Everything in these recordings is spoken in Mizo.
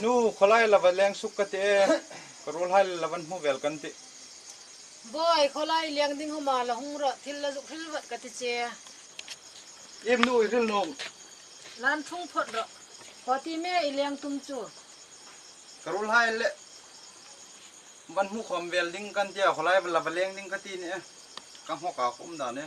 Nu, khawlai lova leng suk ka ti e, ka rulhlai le lovan hmu vel kan ti. Bawihi, khawlai leng ding ho ma la hung rawh, thil la zuk hril vat ka ti che. Im, Nu i hril nung. Lan thung phawt rawh. Khaw ti me i leng tum chu. Ka rulhlai le van hmu khawm vel ding kan ti a, khawlai lova leng ding ka ti nih e, ka nghawk ah ka um dan e.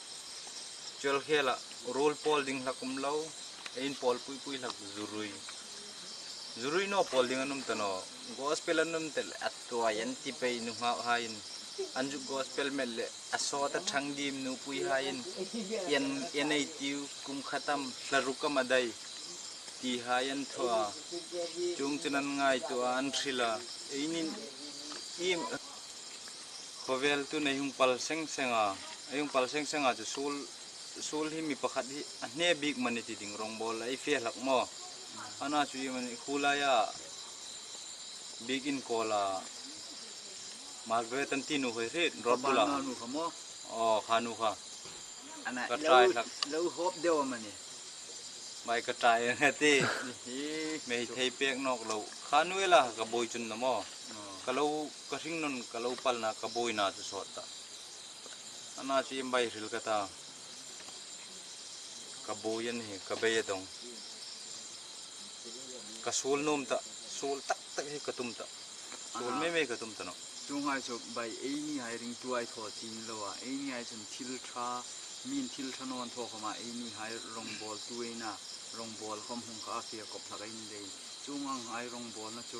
Tial khela rul pawl ding hla kum lo, a in pawl pui pui hlak zurui zurui naw pawl ding an awm ta naw, gospel an awm telh a tuai an ti pei nu nghauh haiin an zut gospel melh leh a sawt a chhang dim nu pui haiin ian ian ei tiu kum khatam hla ru ka madai ti hai an thuah a, chung chun an ngaihtuah a an hrilh a, einin im. Khawvel tun ei hung pal seng seng a, ei hung pal seng seng a chu sul sul hi mi pakhat hi a hne bik mani ti ding rawngbawl a ei fia hlak maw? Ana chu i mani khulai a bik inkawl a Margaret an ti nu hawi hret rawt bula. Kha ba nu kha maw? Aw kha nu kha. Ana i lo i lo hawp deuh a mani. Mai ka try ang a ti. Hee. Mei thei pek nawk lo. Kha nu ila ka bawi chun la maw? Ka lo Ka hringnawn ka lo palna ka bawina chu sawt ta. A na chu i baihrilh ka ta. Ka bawi a ni, ka bei a dawng. Ka sual nuam ta, sual tak tak hi ka tum ta. Sual mai mai ka tum ta nawh. Chu nghal chu baih ei ni hai ring tu ai thaw chin lo a. Ei ni hai chuan thil tha, min thil tha nawn thaw khawm a. Ei ni hai rawngbâwl tu eina, rawngbâwl khawm hung kha a fir kawp thlak ei ni daih in. Chu nghal nghal rawngbâwl na chu.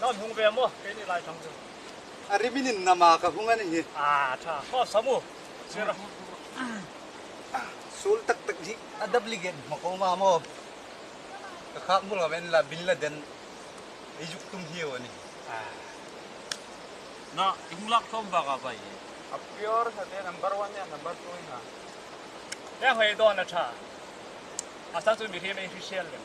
Kan hung ve maw? Kei nih Lai thang chu. A ri min in nam a ka hung a ni hi. A tha. Ho sam u. Sir a. Sul tak tak hi a dap li gen hma ko ma maw? Ka khak hmul kha en la Bin Laden i zuk tum hi u a ni. A. Na i hung lak tlawm vak a vai hi. A pure hna te number one nen number two in a. He nghei dawn a tha. Asal chu mi hri mai hri hrial lem.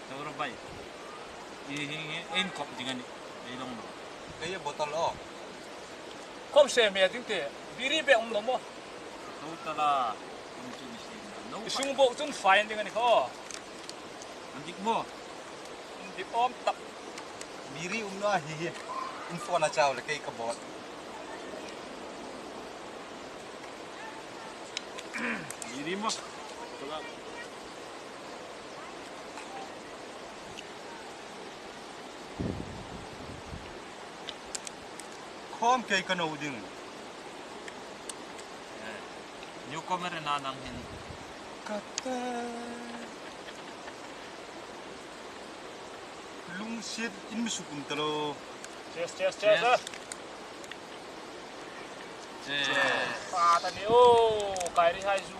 Tura bai i hi nge ein kawp ding a nih kei lawng lo. Kei a bottle aw. Kho hre hmel ding teh biri bek awm lo maw. Total a kawng chu ni hre nia no. I hring bawk chun fai an ding a ni kha aw. An dik maw? An dik awm tak. Biri um lo a hi hi. In phone a chau le kei ka bawt. Biri maw? Khawm kei ka no ding. Eh, new comer na nang hin. Kate. Lung sit in mi sukum talo. Cheers, cheers, cheers. Cheers. Cheers. Cheers. Pa ta ni o, kairi hai zu.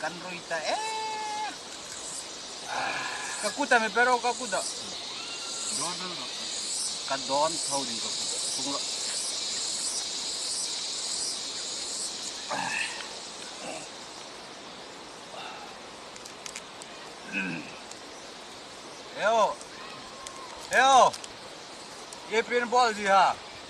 Kan rui ta e. Ka kut a mi pero ka kut a. Don don don. Ka don tho din ka kut. Tung lo. Eo. Eo. Ye pin bol di ha.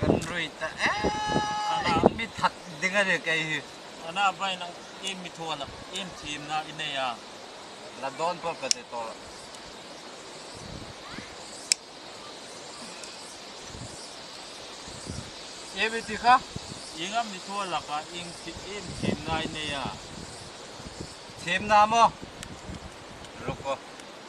Kan rui ta eee i mi that ding a ni kei hi. Ana vai nang i mi thuan ah i mi thim na i nei a. La dawn pawh ka ti tawh. I mi ti kha. I nga mi thuan lak ah i mi thim na i nei a. Thim na maw? Ruk aw.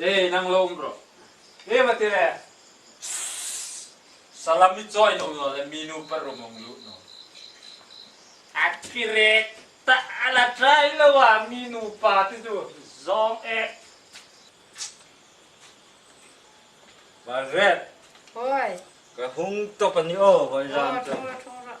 Ei nang lo awm rawh. Ei va ti le. Salami join awm lo le minu par rum awm luh naw. A tirek ta a la try lo a mi nupa te chu zawng e. Margaret. Hawi. Ka hung tawp a ni aw hawi ram chuan. Aw thung rawh thung rawh.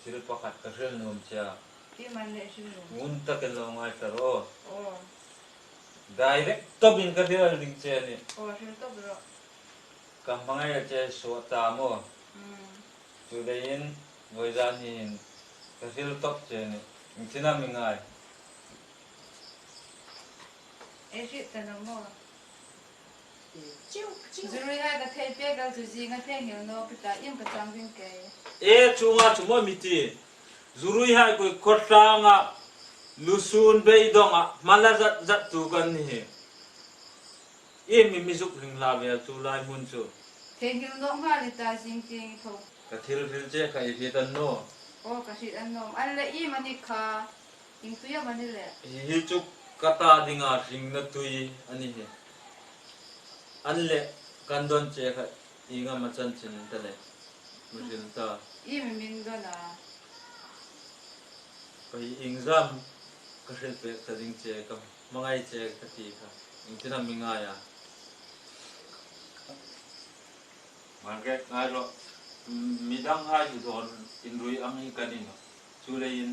Thil pakhat ka hrilh nuam che a. Ih man leh hrilh nuam. Ngun takin lo ngai ta rawh. Aw. Direct tawp in ka hrilh alh ding che a nih. Aw hrilh tawp rawh. Ka hmangaih alh che suah ta maw. Umm. Chu dei in Vawizan hi in ka hrilh tawp che a nih. Min thin a min ngai. I hrilh ta lo maw. Zirui hai ka thei pek lo chu zinga thei ngeu no ka tlai em ka chang vin kei. E chunga chu maw mi ti. Zurui hai koi khawtlanga lusun beidonga hmala zat zat tu kan ni hi. Em nge mi zuk hling hla ve a chu lai hmun chu. Thei ngeu no nghal ni ta zing ti ang i tho. Ka thil ril che kha i hrit an nawm. Aw ka hrit an nawm. An la i manik kha. Eng tui a mani le? Hi hi chu ka ta dinga hringna tui a ni hi. An leh kan dawn che kha inga ma chanchin ta le mihrim ta. I mi min dawn a. Paih ingzam ka hrilh pek ta ding che ka hmangaih che ka ti kha engtin a mi ngai a. Margaret ngai rawh. Midang hai duhdawn inrui ang hi kan inawh. Chu leiin.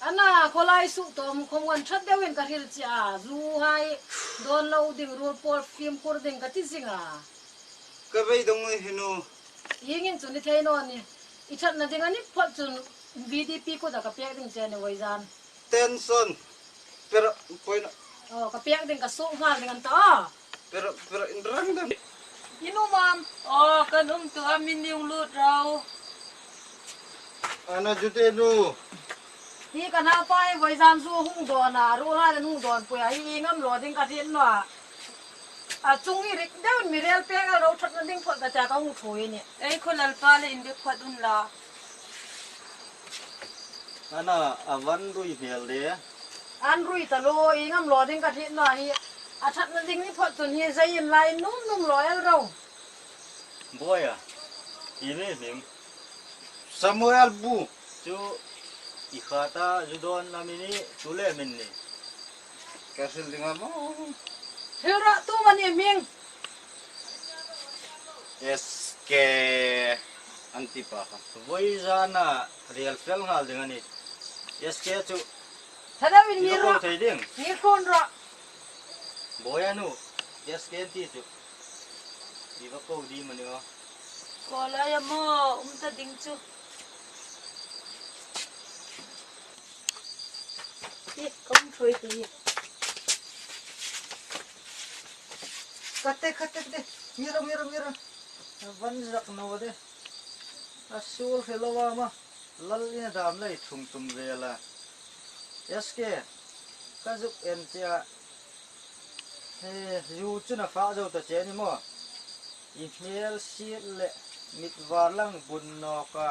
Ana khawlai suh tawh mu khawm wan that deuhin ka hril chiah a, zu hai dawn lo ding rul pawl fim khur ding ka ti zing a. Ka vei dawng nge hi nu? Ing in chu ni thei nawn ni, i thatna ding a ni phawlh chun VDP kut a ka pek ding che ni vawi zan. Tension, perh, point a. Aw, ka pek ding ka suk nghal ding an ta aw. In um a. Aw kan um tawh a min ning lut ro. Ana Jude nu. Hi ka naupa hi vawizaam zu a hung dawn a, a ruahrain an hung dawn pui a, hi i ngam lo ding ka hril nuah. A chung i rik deuhin mi rel pek erawh ro that na ding phawt ka tia ka hung thu i ni. Ei khaw lalpa le in be phuat un la. Ana a van rui hmel de. An rui ta lo, i ngam lo ding ka hlih nuah hi. A thatna ding ni phawt chun hi zei in lai in num num lo el ro. Bawi a, i mi hming. Samuel bu chu i khat a, zu dawn a mi ni, tule min ni. Ka hrilh ding a maw. Hrilh rawh, tu mah ni hming. SK an ti pa kha. Vawi zan a rial fel nghal ding a ni. SK chu lo ko thei ding. Bawi a nu SK an ti chu i va ko dim a ni maw. Ko lai a maw um ta ding chu. Hi ka um thawi tui. Kate kate kate mira mira mira van zak no de a sul hre lo a ma lal in a dam lei thum tum vel a SK ka zuk en che a he zu chu na fah zo ta che a ni maw i hmel sil leh mit var lang bun nawk a.